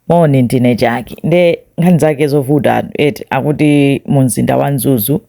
moni ndine Jackie nde nkhani zake zovuta anthu eti akuti mu mzinda wa mzuzu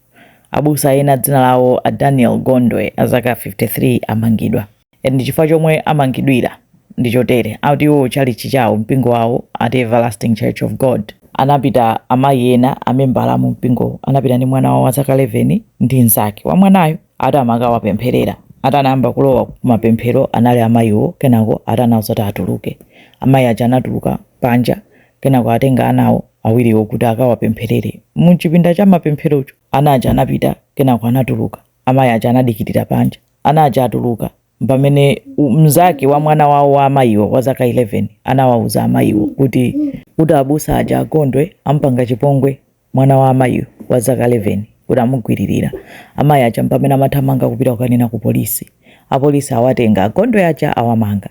abusa ena dzina lawo a daniel gondwe azaka 53 amangidwa ndi chifukwa chomwe amangidwira ndi chotere akuti iwo chalichi chawo mpingo wawo ati everlasting church of god anapita amayi ena amembala mu mpingo anapita ndi mwana wawo wa zaka 11 ndi mnzake wa mwanayo ati amakawapempherera ati anayamba kulowa kumapemphero anali a mayiwo kenako ati anauza ati atuluke amayi aja anatuluka panja kenako atenga anawo awiriwo kuti akawapempherere muchipinda cha mapempherocho ana aja anapita kenako anatuluka amayi aja anadikirira panja ana aja atuluka pamene u- mnzake wa mwana wawo wa amayiwo wa zaka 11 anawauza amayiwo kuti kuti abusa aja a gondwe ampanga chipongwe mwana wa amayiwo wa zaka 11 kuti amugwiririra. Amayi aja mpamene amathamanga kupita kukanena ku polisi. Apolisi awatenga a Gondwe aja awamanga.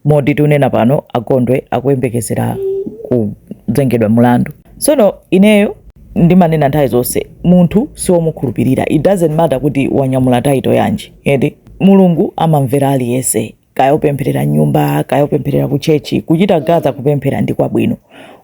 Moti tunena pano a Gondwe akuyembekezera kuzengedwa mulandu. Sono ineyo ndimanena nthawi zonse munthu siwomukhulupirira it doesn't matter kuti wanyamula title yanji eti mulungu amamvera aliyese kaya upempherera m'nyumba kaya upempherera ku chechi ku sinagoga kupemphera ndi kwabwino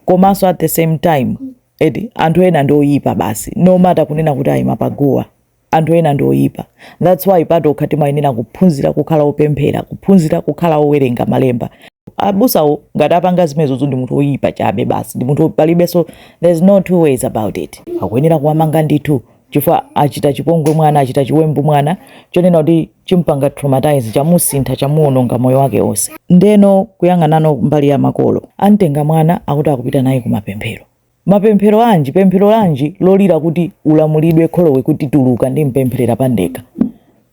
komanso at the same time eti anthu ena ndi oyipa basi no matter kunena kuti ayima paguwa anthu ena ndi oyipa that's why patokha timayenera kuphunzira kukhala opemphera kuphunzira kukhala owerenga malemba abusawo ngati apanga zimenezozo ndi munthu oyipa chabe basi ndi munthu palibenso there's no two ways about it akuyenera kuwamanga ndithu chifukwa achita chipongwe mwana achita chiwembu mwana chonena kuti champanga traumatize chamusintha chamuononga moyo wake onse ndeno kuyang'anano mbali ya makolo amtenga mwana akuti akupita naye kumapemphero mapemphero anji pemphero lanji lolira kuti ulamulidwe kholowe kuti tuluka ndimpempherera pandeka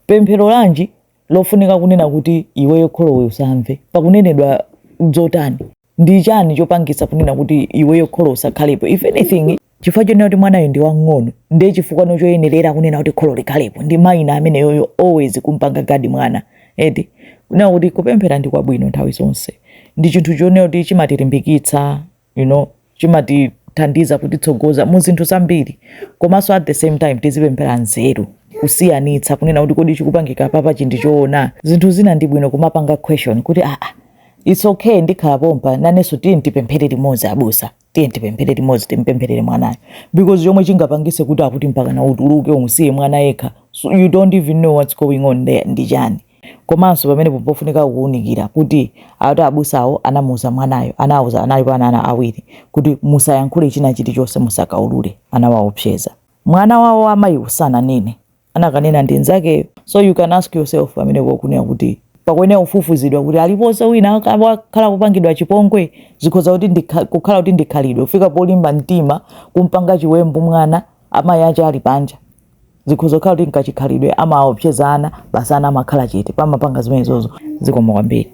pemphero lanji lofunika kunena kuti iweyo kholowe usamve pakunenedwa zotani ndi chani chopangisa kunena kuti iweyo kholo usakhalepo if anything chifukwa chonena kuti mwanayo ndi wang'ono ndiye chifukwa choyenerera kunena kuti kholo likhalepo ndi minor ameneyoyo always kumpanga guard mwana eti kunena kuti kupemphera ndi kwabwino nthawi zonse ndi chinthu chonena kuti chimatilimbikitsa you know chimatithandiza kutitsogoza mu zinthu zambiri komanso at the same time tizipemphera nzeru kusiyanitsa kunena kuti kodi chikupangika apapa ndi choona zinthu zina ndi bwino kumapanga question kuti aa It's okay ndikhala pompa nanenso tiye tipemphere limodzi abusa tiye tipemphere limodzi timpempherere mwanayo because chomwe chingapangise kuti akuti mpaka na utuluke umusiye mwana yekha so you don't even know what's going on there ndi chani komanso pamene pofunika kuunikira kuti ati abusawo anamuuza mwanayo anawauza analipo ana awiri kuti musayankhule china chilichonse musakaulule anawaopseza mwana wawo wa mayiwo sananene anakanena ndi nzakeyo so you can ask yourself pamene pokunena kuti pakuyenera kufufuzidwa kuti aliponso wina akhala kupangidwa chipongwe zikhoza kuti ndikha- kukhala kuti ndikhalidwe kufika polimba mtima kumpanga chiwembu mwana amayi ake ali panja zikhoza kukhala kuti nkachikhalidwe amaopseza ana basi ana amakhala chete pamapanga zimenezozo zikomo kwambiri